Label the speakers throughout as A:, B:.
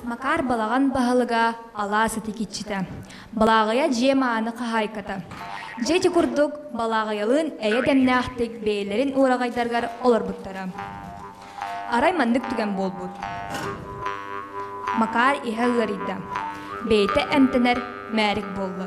A: Макаар балаҕан баһылыга алаас итикиччитэ. Балааҕыйа дьиэ мааны хаһаайката. Дьиэ ити курдук балааҕыйалыын эйэ дэмнээхтик бэйэлэрин уораҕайдарыгар олорбуттара. Арай маннык түгэн буолбут. Макаар иһэ ыарыйда. Бэйэтэ эмтэнэр мээрик буолла.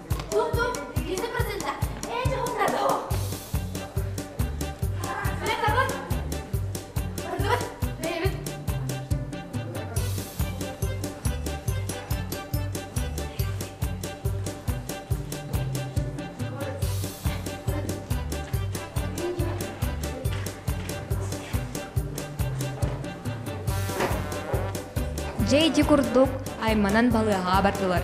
A: Дьэ ити курдук айманан балыаһаа бардылар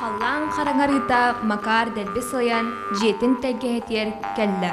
A: Халлаан хараҥарыыта Макар дэлби сылайан дьиэтин тэлгэһэтигэр кэллэ.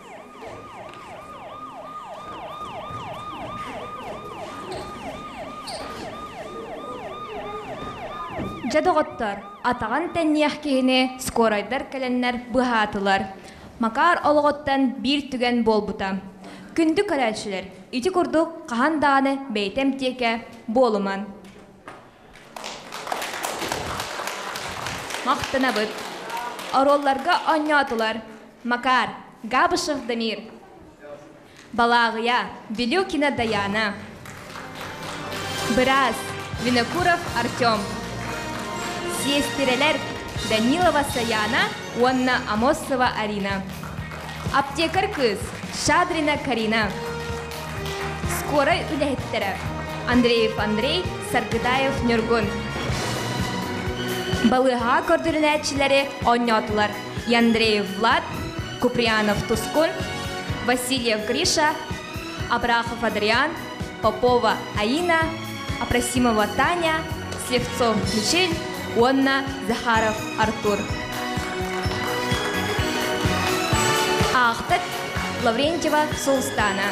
A: Дьэ доҕоттор, атаҕын тэнниэх киһини скорайдар кэлэннэр быһаатылар. Макаар олоҕуттан биир түгэн буолбута. Күндү көрөөччүлэр, ити курдук хаһан даҕаны бэйэтэ эмтиэкэ буолуман. Махтанабыт! Оруолларга оонньоотулар Макар Габышев Дамир, Балааҕыйа Билюкина Даяна, Быраас Винокуров Артем, сиэстирэлэр Данилова Саяна уонна Амосова Арина. Аптекарь кыыс Шадрина Карина. Скорай үлэһиттэрэ Андреев Андрей, Саргытаев Ньургун. Балыыһаҕа көрдөрүнээччилэри оонньоотулар Андреев Влад, Куприянов Тускун, Васильев Гриша, Абрахов Адриан, Попова Аина, Апросимова Таня, Слепцов Мишель уонна Захаров Артур. Аахтат Лаврентьева Сулстана.